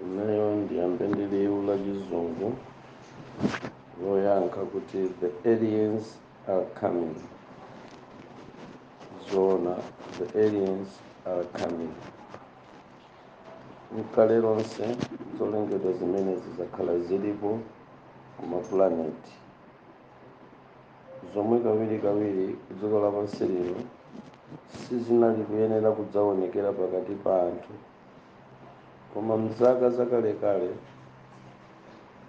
imeneyo ndiyambe ndi liwu la chizungu loyankha kuti the aliens are coming zoona the aliens are coming mkale lonse zolengedwa zimenezi zakhala zilipo kumaplaneti zomwe kawirikawiri kudziko lapansi lino sizinali kuyenera kudzaonekera pakati pa anthu koma mzaka zakalekale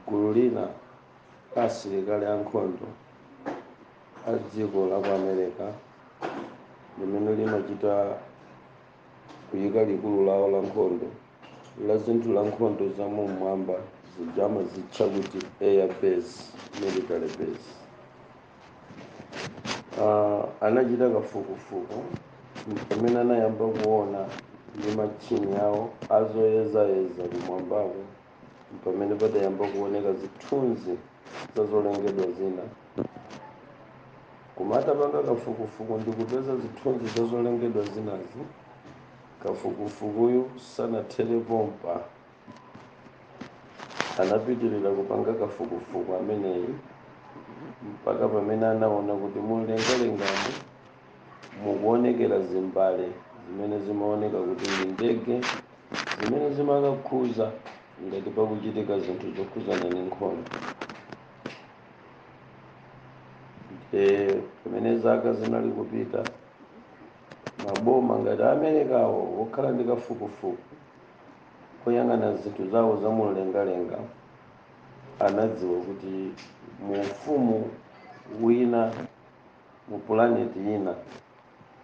gulu lina la asilikali ankhondo a dziko la ku america limene limachita kuyika likulu lawo la nkhondo la zinthu la nkhondo za mumwamba zija amazitcha kuti air base military base uh, anachita kafukufuku pamene anayamba kuona ndi matchini awo azoyezayeza kumwambako mpamene padayamba kuoneka zithunzi za zolengedwa zina koma atapanga kafukufuku ndi kupeza zithunzi za zolengedwa zinazi kafukufukuyu sanathere pompa anapitirira kupanga kafukufuku ameneyu mpaka pamene anaona kuti mumlengalengamu mukuonekera zimbale zimene zimaoneka kuti ndi ndege zimene zimakakhuza ngati pakuchitika zinthu zokhuzana ndi nkhondo e, pamene zaka zinali kupita maboma ngati Americawo okhala ndi kafukufuku koyang'ana zinthu zawo za mumlengalenga anadziwa kuti mu ufumu wina Mu pulaneti ina,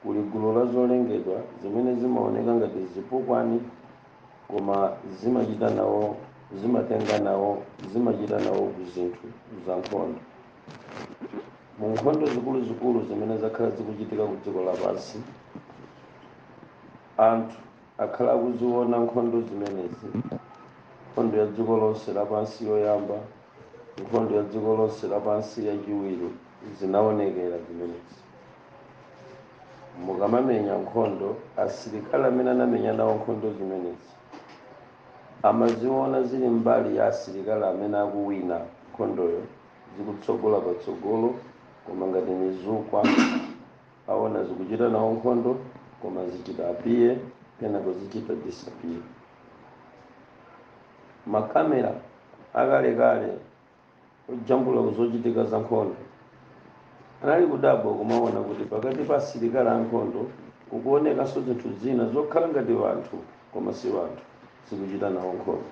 kuli gulu la zolengedwa zimene zimaoneka ngati zipukwani, koma zimachita nawo, zimatenga nawo, zimachita nawo ku zinthu za nkhondo. Mu nkhondo zikuluzikulu zimene zakhala zikuchitika ku dziko lapansi, anthu. akhala akuziwona nkhondo zimenezi, Nkhondo ya Dziko Lonse Lapansi Yoyamba, Nkhondo ya Dziko Lonse Lapansi Yachiwiri, zinawonekera zimenezi. Mukamamenya nkhondo, asilikali amene anamenya nawo nkhondo zimenezi amaziwona zili mbali ya asilikali amene akuwina nkhondoyo, zikutsogola patsogolo koma ngati mizukwa. aona zikuchita nawo nkhondo koma zichita appear kenako zichita disappear makamera akalekale ojambula kuzochitika za nkhondo anali kudabwa kumaona kuti pakati pa asilikali ankhondo kukuonekanso zinthu zina zokhala ngati wanthu koma si wanthu zikuchita nawo nkhondo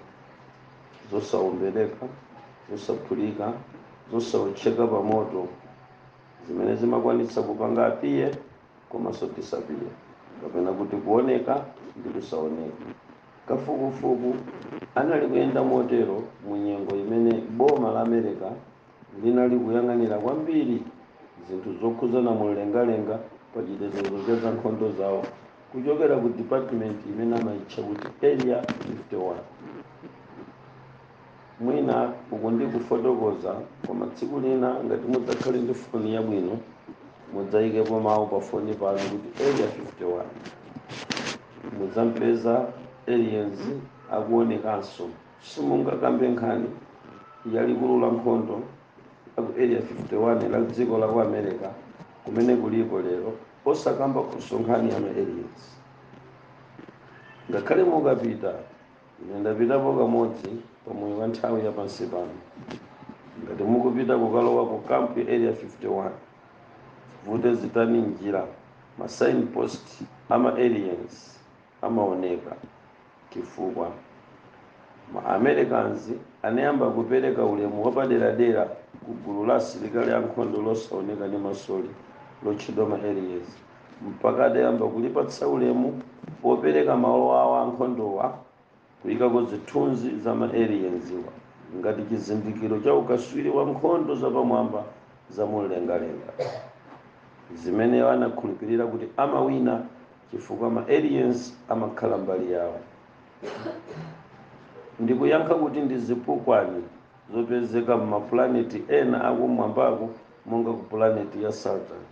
zosaombereka zosaphulika zosaotcheka pa moto zimene zimakwanitsa kupanga appear komanso disappear kapena kuti kuoneka ndi kusaoneka kafukufuku anali kuyenda motero mu nyengo imene boma la america linali kuyang'anira kwambiri zinthu zokhudzana mumlengalenga pa chitetezo cha zankhondo zawo kuchokera ku department imene amayitcha kuti area 51 mwina uku ndi kufotokoza koma tsiku lina ngati mudzakhale ndi foni yabwino mudzayikepo mawu pa foni panu kuti area 51 mudzapeza aliens akuonekanso simungakambe nkhani ya likulu la nkhondo la ku area 51 la dziko la ku america kumene kulipo lero osakambakonso nkhani ya ma aliens ngakhale mukapita ine ndapitapo kamodzi pa moyo wa nthawi ya pansi pano ngati mukupita kukalowa ku kampu ya area 51 vute zitani njira ma signpost a ma aliens amaoneka chifukwa ma americans anayamba kupereka ulemu wapaderadera ku gulu la asilikali ankhondo losaoneka ndi masoli lotchedwa ma aliens mpaka adayamba kulipatsa ulemu popereka malo awo ankhondowa kuyikako zithunzi za ma alienswa ngati chizindikiro cha ukaswiri wa nkhondo zapamwamba za mumlengalenga zimene iwo anakhulupirira kuti amawina chifukwa ma aliens amakhala mbali yawo ndikuyankha kuti ndi zipukwani zopezeka m'mapulaneti ena akumwambako monga ku pulaneti ya saturn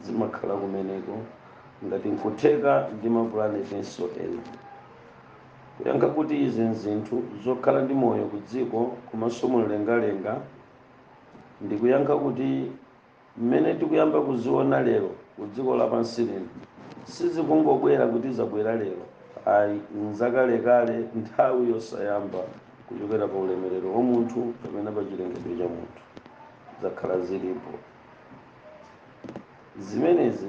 zimakhala kumeneko ngati nkutheka ndi mapulanetinso ena kuyankha kuti izi nzinthu zokhala ndi moyo ku dziko komanso mumlengalenga ndikuyankha kuti mmene tikuyamba kuziona lero ku dziko lapansi lino sizikungobwera kuti zabwera lero ayi nzakalekale nthawi yosayamba kuchokera pa ulemerero wa munthu kapena pa chilengedwe cha munthu zakhala zilipo zimenezi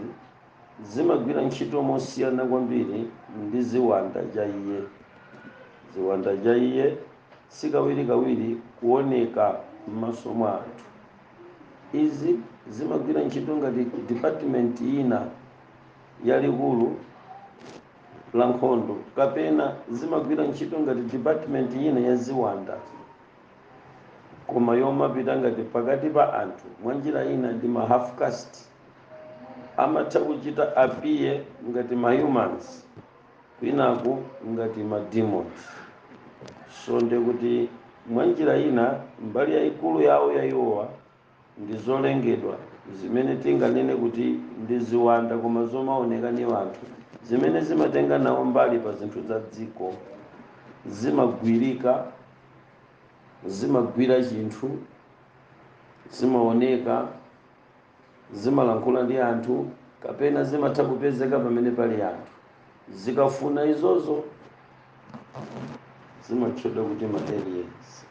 zimagwira ntchito mosiyana kwambiri ndi ziwanda chaiye ziwanda chaiye sikawirikawiri kuoneka m'maso mwa anthu izi zimagwira ntchito ngati department ina ya likulu la nkhondo kapena zimagwira ntchito ngati department ina ya ziwanda koma yomapita ngati pakati pa anthu mwa njira ina ndi ma half caste amatha kuchita appear ngati ma humans kwinaku ngati ma demons so nde kuti mwa njira ina mbali yayikulu yawo ya iwowa ndi zolengedwa zimene tinganene kuti ndi ziwanda koma zomaoneka ni anthu zimene zimatenga nawo mbali pa zinthu za dziko zimagwirika zimagwira chinthu zimaoneka zimalankhula ndi anthu kapena zimatha kupezeka pamene pali anthu zikafuna izozo zimatchedwa kuti ma aliens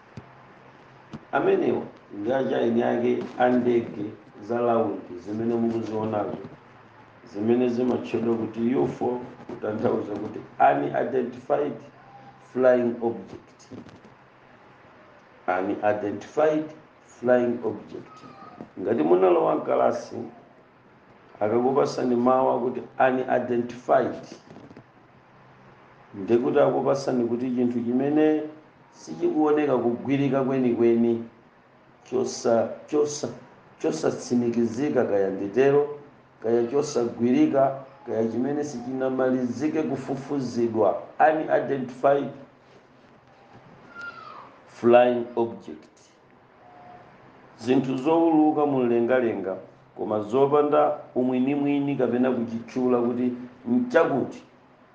amenewa ndi achiyeni ake a ndege za laundi zimene mukuzionazo zimene zimatchedwa kuti ufo kutanthauza kuti unidentified flying object unidentified flying object ngati munalowa m'kalasi akakupasani mawu akuti unidentified nde kuti akupasani kuti chinthu chimene sichikuoneka kugwirika kwenikweni chosa chosa chosatsimikizika kaya nditero kaya chosagwirika kaya chimene sichinamalizike kufufuzidwa unidentified flying object zinthu zowuluka mumlengalenga koma zopanda umwinimwini kapena kuchitchula kuti n'chakuti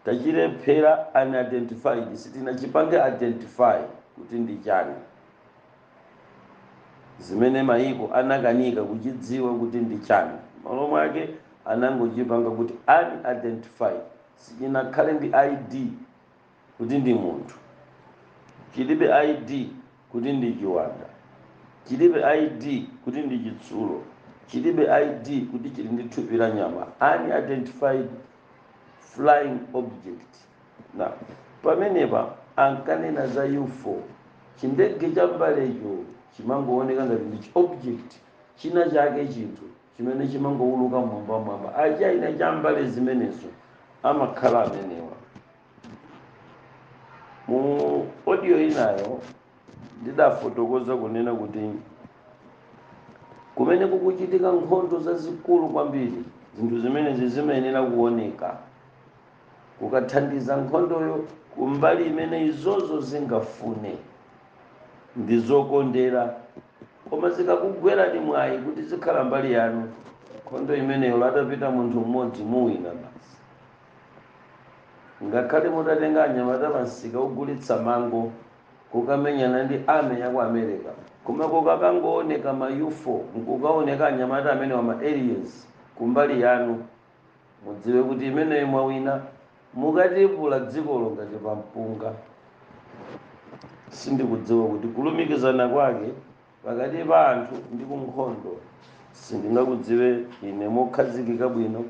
tachilephera unidentified sitinachipange identify kuti ndi chani zimene mayiko anakanika kuchidziwa kuti ndi chani malo mwake anangochipanga kuti unidentified sichinakhale ndi id kuti ndi munthu, chilibe ID kuti ndi chiwanda, chilibe ID kuti ndi chitsulo, chilibe ID kuti chili ndi thupi la nyama, unidentified flying object. Pamenepa ankanena za UFO, chindege cha mbalecho chimangooneka ngati ndi object china chake chinthu chimene chimangouluka mmwambamwamba. Achiyeni a cha mbale zimenezo amakhala amenewa. Mu audio inayo ndidafotokoza kunena kuti kumene kukuchitika nkhondo zazikulu kwambiri zinthu zimenezi zimayenera kuoneka kukathandiza nkhondoyo kumbali imene izozo zingafune ndizokondera koma zikakugwerani mwayi kuti zikhala mbali yanu nkhondo imeneyo ola atapita munthu mmodzi muwina basi Ngakhale mutatenga anyamata pa msika ogulitsa mango kukamenyana ndi army yaku America koma kukakangooneka ma ufo nkukaoneka anyamata amenewa ma aliens kumbali yanu mudziwe kuti imeneyo mwawina mukatipula dzikolo ngati pa mpunga. Sindikudziwa kuti kulumikizana kwake pakati pa anthu ndi kunkhondo sindingakudziwe ine mokhazikika bwino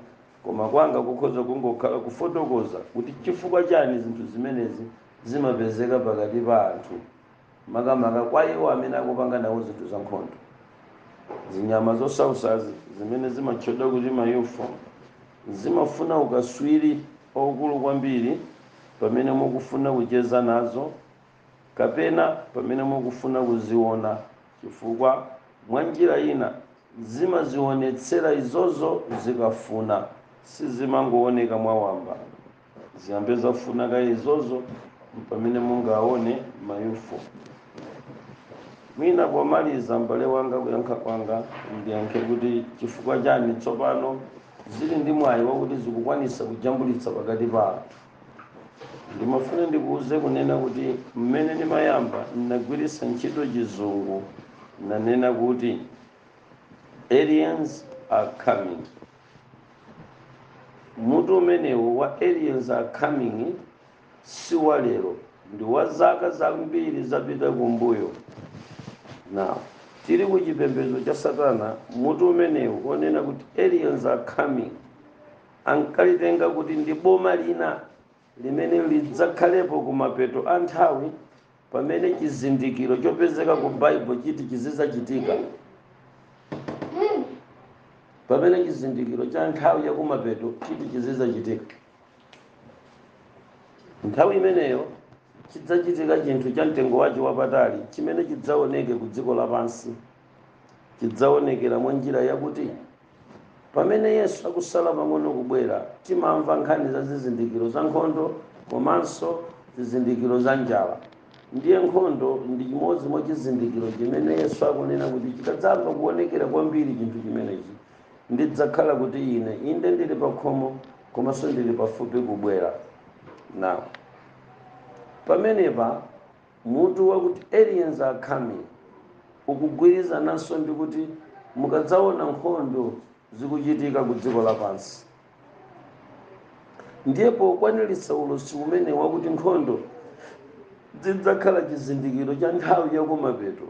koma kwanga kukhoza kungokhala kufotokoza kuti chifukwa chani zinthu zimenezi zimapezeka pakati pa anthu makamaka kwa iwo amene akupanga nawo zinthu za nkhondo zinyama zosausazi zimene zimatchedwa kuti ma ufo zimafuna ukaswiri okulu kwambiri pamene mukufuna kucheza nazo kapena pamene mukufuna kuziona, chifukwa mwanjira ina zimazionetsera izozo zikafuna, sizimangooneka mwa wamba. Ziyambe zafuna kaye izozo mpamene mungaone ma UFO. Mwina pomaliza m'bale wanga kuyankha kwanga ndiyankhe kuti chifukwa chani tsopano zili ndi mwayi wakuti zikukwanisa kujambulitsa pakati pa anthu. ndimafuna ndikuuze kunena kuti mmene ndimayamba ndinagwiritsa ntchito chizungu nanena kuti aliens are coming mutu umenewu wa aliens are coming si wa lero ndi wa zaka zambiri zapita kumbuyo now tili ku chipembedzo cha satana mutu umenewu onena kuti aliens are coming Ankalitenga kuti ndi boma lina limene lidzakhalepo kumapeto a nthawi pamene chizindikiro chopezeka ku Bible chiti chizidzachitika. Pamene chizindikiro cha nthawi ya kumapeto chiti chizidzachitika. Nthawi imeneyo chidzachitika chinthu cha mtengo wache wapatali chimene chidzaoneke ku dziko lapansi. chidzaonekera mwa njira yakuti pamene Yesu akusala pang'ono kubwera, timamva nkhani za zizindikiro za nkhondo komanso zizindikiro za njala. Ndiye nkhondo ndi chimodzi mwa chizindikiro chimene Yesu akunena kuti chikadzayamba kuonekera kwambiri chinthu chimenechi, ndidzakhala kuti ine inde ndili pakhomo komanso ndili pafupi kubwera. Now, pamenepa Mutu wakuti Aliens Are Coming ukugwirizananso ndi kuti mukadzaona nkhondo zikuchitika ku dziko lapansi, ndiye pokwaniritsa ulosi umene wakuti nkhondo zidzakhala chizindikiro cha nthawi yakumapeto,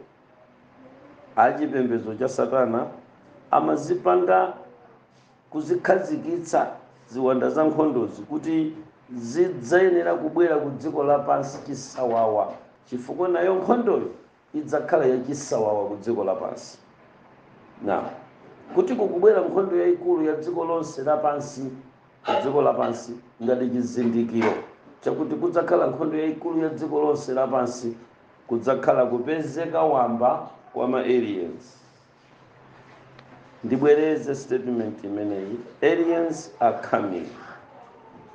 achipembedzo cha Satana amazipanga kuzikhazikitsa ziwanda za nkhondozi kuti zidzayenera kubwera ku dziko lapansi chisawawa, chifukwa nayo nkhondoyo idzakhala yachisawawa ku dziko lapansi. Now kuti kukubwera nkhondo yayikulu ya dziko lonse lapansi ku dziko lapansi ngati chizindikiro chakuti kudzakhala nkhondo yayikulu ya dziko lonse lapansi kudzakhala kupezeka wamba kwa ma aliens ndibwereze statement imeneyi aliens are coming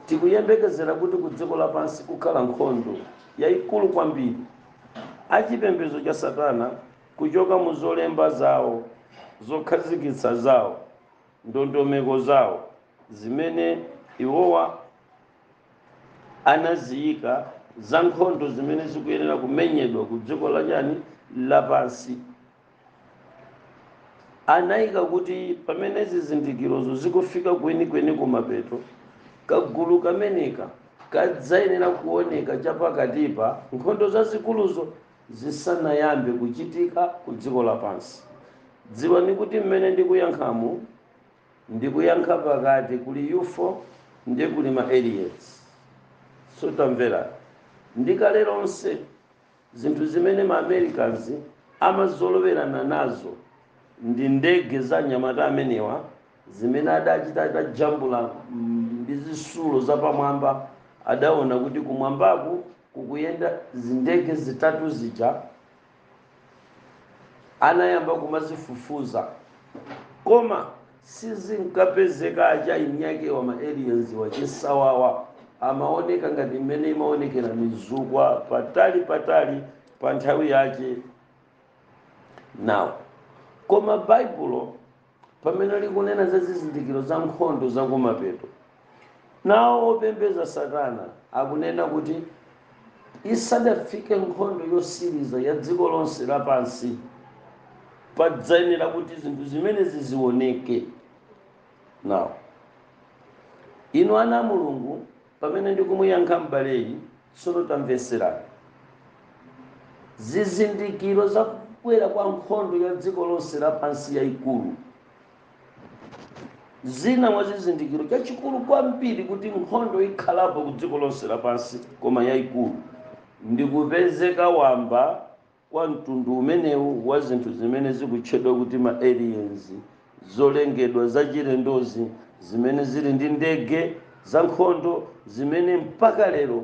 tikuyembekezera kuti ku dziko lapansi kukhala nkhondo yayikulu kwambiri achipembedzo cha satana kuchoka mu zolemba zawo zokhazikitsa zawo ndondomeko zawo zimene iwowa anaziyika za nkhondo zimene zikuyenera kumenyedwa ku dziko lachani lapansi Anaika kuti pamene zizindikirozo zikufika kwenikweni kumapeto, kagulu kameneka kadzayenera kuoneka chapakatipa nkhondo zazikuluzo zisanayambe kuchitika ku dziko lapansi. Dziwani kuti mmene ndikuyankhamu ndikuyankha pakati kuli UFO ndi kuli ma Aliens. So tamverani, ndi kale lonse Zinthu zimene ma Americans amazolowerana nazo ndi ndege za anyamata amenewa zimene adachita atajambula ndi zisulo zapamwamba adaona kuti kumwambaku kukuyenda zindege zitatu zija anayamba kumazifufuza koma Sizinkapezeka achina eni akewa ma aliens wachisawawa amaoneka ngati mmene imaonekera mizukwa patali patali pa nthawi yache now koma baibulo pamene likunena za zizindikiro za nkhondo zakumapeto Nawo opembedza Satana akunena kuti isadafike nkhondo yotsiriza ya dziko lonse lapansi, padzayenera kuti zinthu zimenezi zioneke. Nawo. Inu ana a Mulungu, pamene ndikumuyankha m'baleyu, tsono tamvetserani. Zizindikiro za kubwera kwa nkhondo ya dziko lonse lapansi yaikulu. zina mwa chizindikiro chachikulu kwambiri kuti nkhondo ikhalapo ku dziko lonse lapansi koma yayikulu ndi kupezeka wamba kwa mtundu umenewu wa zinthu zimene zikutchedwa kuti ma aliens zolengedwa zachilendozi zimene zili ndi ndege za nkhondo zimene mpaka lero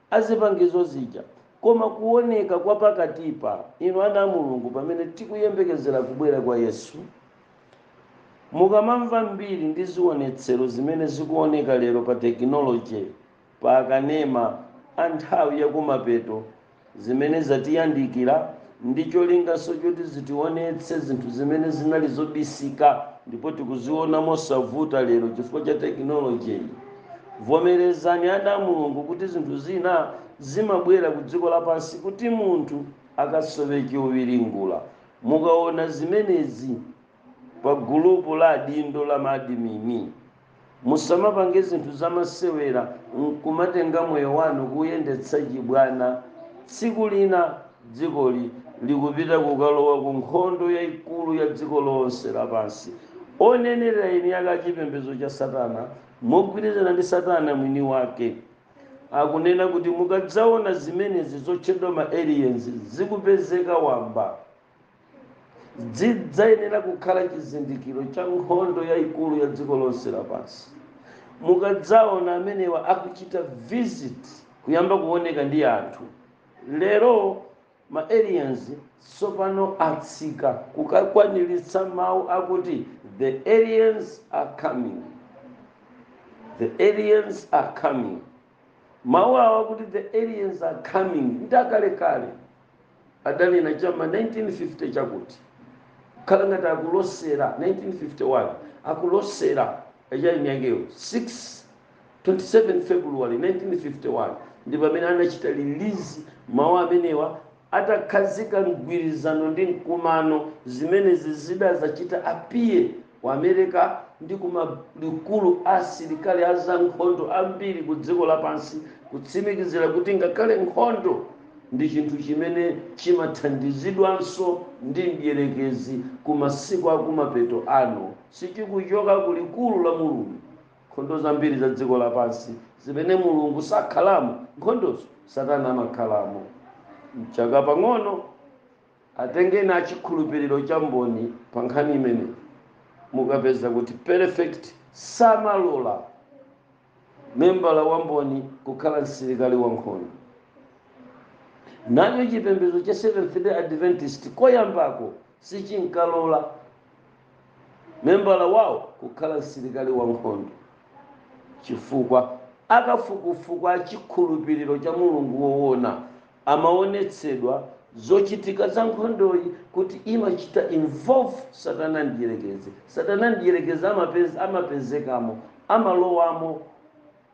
a zipangizo zija, koma kuwoneka kwa pakatipa, inu ana a Mulungu, pamene tikuyembekezera kubwera kwa Yesu. Mukamamva mbiri ndi ziwonetsero zimene zikuwoneka lero pa tekinoloje, pa akanema a nthawi ya kumapeto zimene zatiyandikira, ndi cholinganso choti zitiwonetse zinthu zimene zinali zobisika ndipo tikuziona mosavuta lero chifukwa cha tekinolojiyi vomerezani ana a mulungu kuti zinthu zina zimabwera ku dziko lapansi kuti munthu akasowe chowiringula mukaona zimenezi pa gulupu la adindo la maadimini musamapange zinthu zamasewera nkumatenga moyo wanu kuuyendetsa chibwana tsiku lina dzikoli likupita kukalowa ku nkhondo yayikulu ya dziko lonse lapansi onenera eni ake achipembedzo cha satana mogwirizana ndi satana mwini wake akunena kuti mukadzaona zimenezi zotchedwa ma aliens zikupezeka wamba zidzayenera kukhala chizindikiro cha nkhondo yayikulu ya dziko lonse lapansi mukadzaona amenewa akuchita visit kuyamba kuoneka ndi anthu lero ma aliens tsopano atsika kukakwaniritsa mawu akuti the aliens are coming Mawu awo akuti the aliens are coming ndi akalekale, adanena cha m'ma 1950 chakuti, kukhala ngati akulosera, 1951, akulosera a chaeni akewo, 6, 27 February 1951 ndi pamene anachita release mawu amenewa atakhazika mgwirizano ndi mkumano, zimenezi zidazachita appear ku America ndi ku malikulu a asilikali a zankhondo ambiri ku dziko lapansi kutsimikizira kuti ngakhale nkhondo ndi chinthu chimene chimathandizidwanso ndi mdierekezi ku masiku akumapeto ano sichikuchoka ku likulu la mulungu nkhondo zambiri za dziko lapansi zimene mulungu sakhalamo nkhondozo satana amakhalamo mchaka pang'ono Atengeni a chikhulupiriro cha mboni pa nkhani imeneyi, mukapeza kuti perfect samalola membala wa mboni kukhala msilikali wa nkhondo. Nachonso chipembedzo cha Seventh-day Adventist koyambako sichinkalola membala wawo kukhala msilikali wa nkhondo chifukwa akafukufuku a chikhulupiriro cha Mulungu woona Amawonetsedwa zochitika za nkhondoyi kuti imachita involve Satana Mdyerekezi. Satana Mdyerekezi amapezekamo, amalowamo.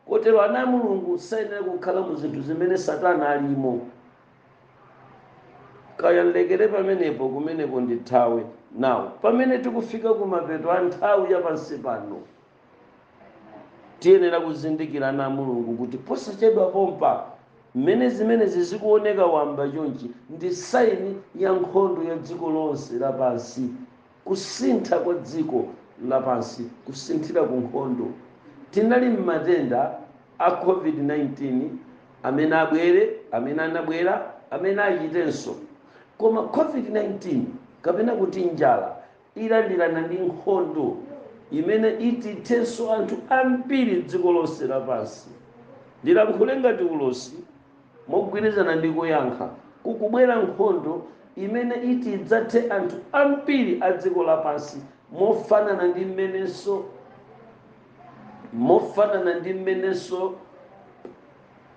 Kotero ana a Mulungu sayenera kukhala mu zinthu zimene Satana alimo. Kaya ndilekere pamenepo, kumeneko ndithawe. Now, pamene tikufika kumapeto a nthawi ya pansi pano. tiyenera kuzindikira ana a mulungu kuti posachedwa pompa mmene zimenezi zikuoneka wamba chonchi ndi saini ya nkhondo ya dziko lonse lapansi kusintha kwa dziko lapansi kusinthira ku nkhondo tinali m'matenda a covid-19 amene abwere amene anabwera amene achitenso koma covid-19 kapena kuti njala ilandirana ndi nkhondo imene iti ithenso anthu ambiri dziko lonse lapansi. Ndilankhule ngati ulosi mogwirizana ndi kuyankha, kukubwera nkhondo imene iti idzathe anthu ambiri a dziko lapansi mofanana ndi mmenenso mofanana ndi mmenenso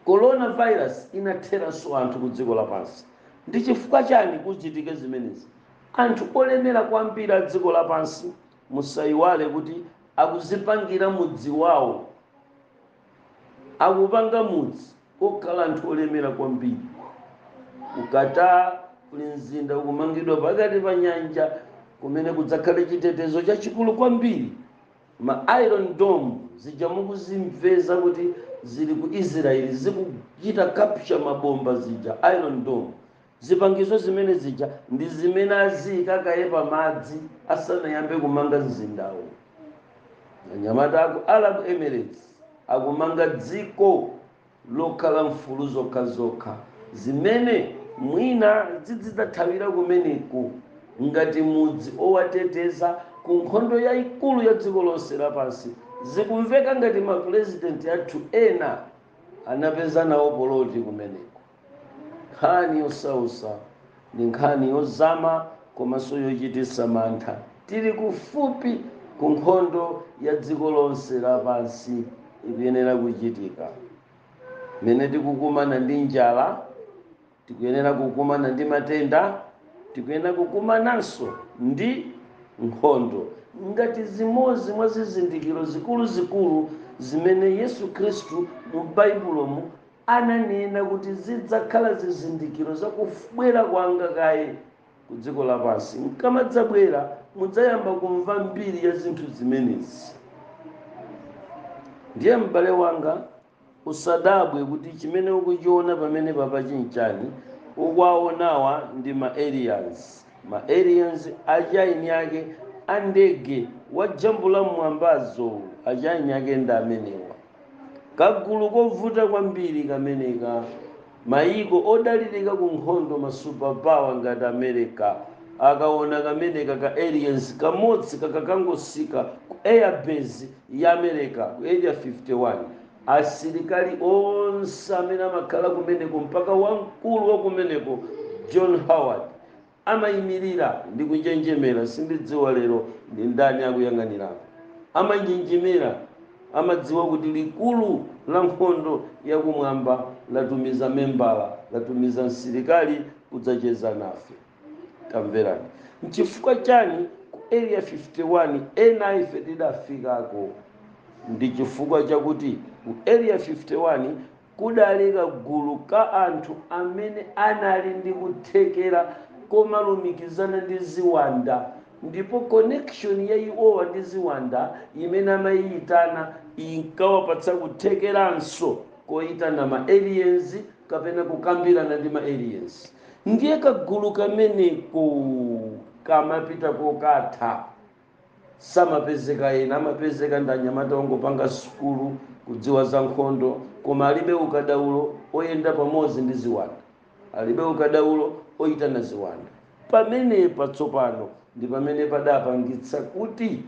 coronavirus inatheranso anthu ku dziko lapansi. Ndi chifukwa chani kuchitike zimenezi? Anthu olemera kwambiri a dziko lapansi musaiwale kuti akudzipangira mudzi wawo. Akupanga mudzi wokhala anthu olemera kwambiri ku Qatar kuli mzinda ukumangidwa pakati pa nyanja kumene kudzakhale chitetezo chachikulu kwambiri. Ma iron dome zija mukuzimveza kuti zili ku Israel zikuchita capture mabomba zija iron dome Zipangizo zimene zija ndi zimene aziika kaye pamadzi asanayambe kumanga mzindawu. Anyamata a ku Arab Emirates akumanga dziko lokhala mfulu zokhazokha zimene mwina zizidzathawira kumeneku ngati mudzi owateteza ku nkhondo yaikulu ya dziko lonse lapansi. Zikumveka ngati mapulezidenti athu ena anapeza nawo poloti kumeneko. Nkhani yosautsa ndi nkhani yozama komanso yochititsa mantha. Tili kufupi ku nkhondo ya dziko lonse lapansi, ikuyenera kuchitika. Mmene tikukumana ndi njala, tikuyenera kukumana ndi matenda, tikuyenera kukumananso ndi nkhondo ngati zimodzi mwa zizindikiro zikuluzikulu zimene Yesu Khristu mu Baibulomu ananena kuti zidzakhala zizindikiro za kubwera kwanga kaye ku dziko lapansi. Nkamadzabwera, mudzayamba kumva mbiri ya zinthu zimenezi. Ndiye m'bale wanga, usadabwe kuti chimene ukuchiona pamene apachi nchani, ukuwaonawa ndi ma aliens. Ma aliens achieni ake a ndege wajambula mmwambazo, achieni ake ndi amenewa. Kagulu kovuta kwambiri kameneka. Mayiko odalirika ku nkhondo, ma superpower ngati America, akaona kameneka ka aliens kamodzi kakakangotsika ku air base ya America ku area 51, asilikali onse amene amakhala kumeneko mpaka wamkulu wa kumeneko John Howard Amaimirira ndi kunjenjemera, Sindidziwa lero ndi ndani akuyang'anirako. Amanjenjemera, Amadziwa kuti likulu la nkhondo ya kumwamba latumiza membala, latumiza msilikali kudzacheza nafe. Tamverani. Nchifukwa chani ku Area 51 ena a ife tidafikako? Ndi chifukwa chakuti ku Area 51 Kudali kagulu ka anthu amene anali ndi kuthekera komalumikizana ndi ziwanda ndipo connection ya iwowa ndi ziwanda imene amayiyitana inkawapatsa kuthekeranso koyitana ma aliens kapena kukambirana ndi ma aliens ndiye kagulu kameneko kamapita kukatha samapezeka ena amapezeka ndi anyamata ongopanga sukulu kudziwa za nkhondo koma alibe ukadaulo oyenda pamodzi ndi ziwanda alibe ukadaulo oyitana ziwanda pamene patsopano ndi pamene padapangitsa kuti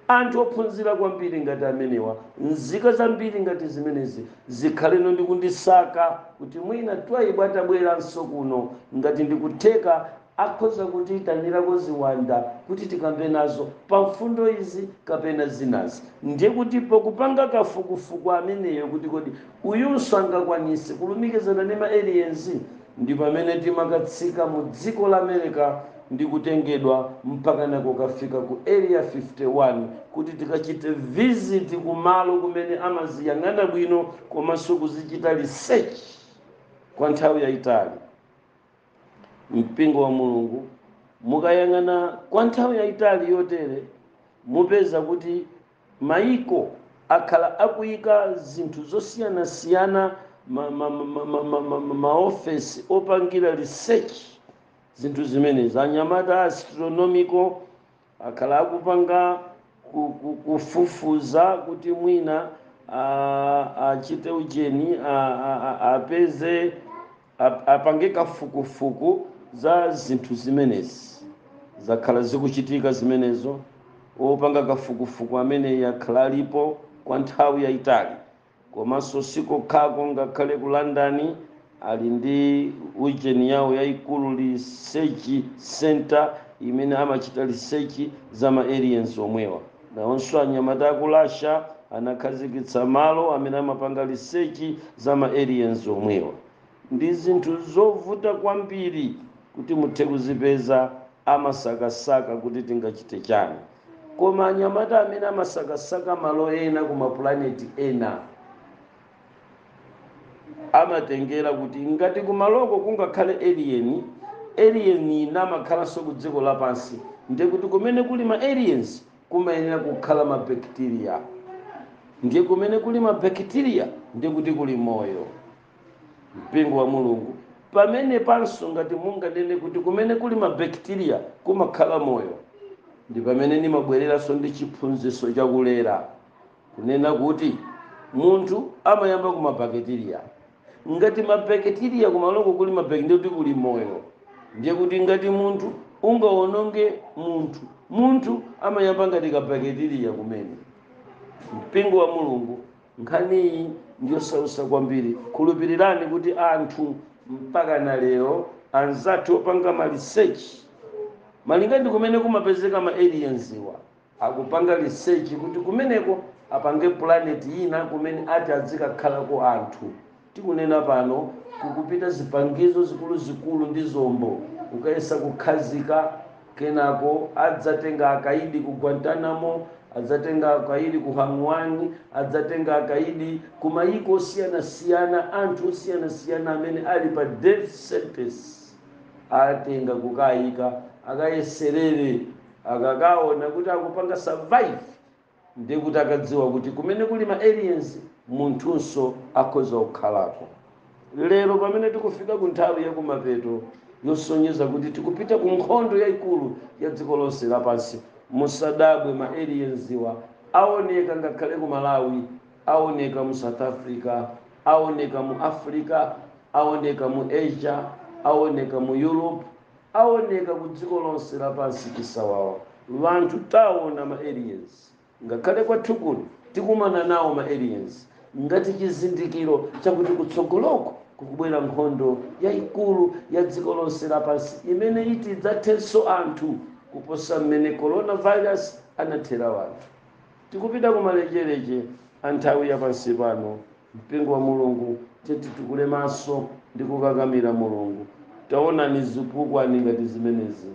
anthu ophunzira kwambiri ngati amenewa nzika zambiri ngati zimenezi zikhaleno ndi kundisaka kuti mwina twaibu atabweranso kuno ngati ndikutheka akhoza kutiitanirako ziwanda kuti tikambe nazo pa mfundo izi kapena zinazi. Ndiye kuti pokupanga kafukufuku ameneyo kuti kodi uyunso angakwanise kulumikizana ndi ma aliens ndi pamene timakatsika mu dziko la America ndi kutengedwa mpakana kukafika ku Area 51 kuti tikachite visit ku malo kumene amaziyang'ana bwino komanso kuzichita research kwa nthawi yaitali. mpingo wa mulungu mukayang'ana kwa nthawi yayitali yotere mupeza kuti mayiko akhala akuyika zinthu zosiyanasiyana maofesi ma, ma, ma, ma, ma opangira research zinthu zimenezi anyamata astronomical akhala akupanga ku- ku- kufufuza kuti mwina a- achite ujeni a- a- a- apeze ap- apange kafukufuku za zinthu zimenezi zakhala zikuchitika zimenezo opanga kafukufuku ameneyi akhala alipo kwa nthawi yayitali Komanso si kokhako, ngakhale ku London ali ndi ujeni yawo yaikulu, research centre, imene amachita research za ma aliens omwewa. Nawonso anyamata a ku Russia anakhazikitsa malo amene amapanga research za ma aliens omwewa. Ndi zinthu zovuta kwambiri kuti muthe kuzipeza, amasakasaka kuti tingachite chani. Koma anyamata amene amasakasaka malo ena ku mapulaneti ena amatengera kuti ngati kumaloko kungakhale alien, alien namakhalanso ku dziko lapansi, ndiye kuti kumene kuli ma aliens kumayenera kukhala mabekiteriya, ndiye kumene kuli mabekiteriya ndiye kuti kuli moyo. mpingo wa mulungu pamene panso ngati munganene kuti kumene kuli mabakteriya kumakhala moyo ndi pamene ndimabwereranso ndi chiphunzitso chakulera kunena kuti munthu amayamba ku mabakteriya ngati mabakteriya kumaloko kuli mabakteriya kuti kuli moyo ndiye kuti ngati munthu ungawononge munthu munthu amayamba ngati kabakteriya kumene mpingo wa mulungu nkhaniyi ndiyosausa kwambiri khulupirirani kuti anthu mpaka na lero anzathu opanga ma research malinga ndi kumene kumapezeka ma aliens-wa akupanga research kuti kumeneko apange planet ina kumene ati adzikakhalako anthu Tikunena pano kukupita zipangizo zikuluzikulu ndi zombo kukayesa kukhazika, kenako adzatenga akaidi ku Guantanamo, adzatenga akaidi ku Hang One, adzatenga akaidi ku mayiko osiyanasiyana, anthu osiyanasiyana amene ali pa death sentence atenga kukaika akayeserere akakaona kuti akupanga survive. Ndiye kuti akadziwa kuti kumene kuli ma aliens munthunso akhoza kukhalako. Lero pamene tikufika ku nthawi ya kumapeto yosonyeza kuti tikupita ku nkhondo yaikulu ya dziko lonse lapansi, musadabwe ma aliens-wa aoneka ngakhale ku Malawi, aoneka mu South Africa, aoneka mu Africa, aoneka mu Asia, aoneka mu Europe. awoneka ku dziko lonse lapansi chisawawa wanthu tawona ma aliens ngakhale kwathu kuno tikumana nawo ma aliens ngati chizindikiro chakuti kutsogoloko kukubwera nkhondo yayikulu ya dziko lonse lapansi imene iti idzathenso anthu kuposa mmene coronavirus anathera wanthu tikupita kumalecheleche a nthawi ya pansi pano Mpingo wa Mulungu, tiyeni titukule maso ndi kukakamira Mulungu. Taonani zipukwani ngati zimenezi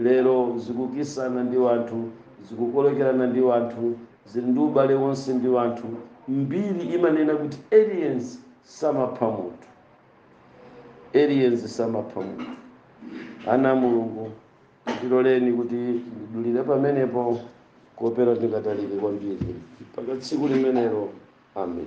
lero, zikukisana ndi wanthu, zikukolekerana ndi wanthu, zili ndi ubale wonse ndi wanthu. Mbiri imanena kuti aliens samapha munthu, aliens samapha munthu. Ana a Mulungu, ndiloleni kuti ndidulire pamenepo, kuopera ndingatalike kwambiri mpaka tsiku limenelo. Amen.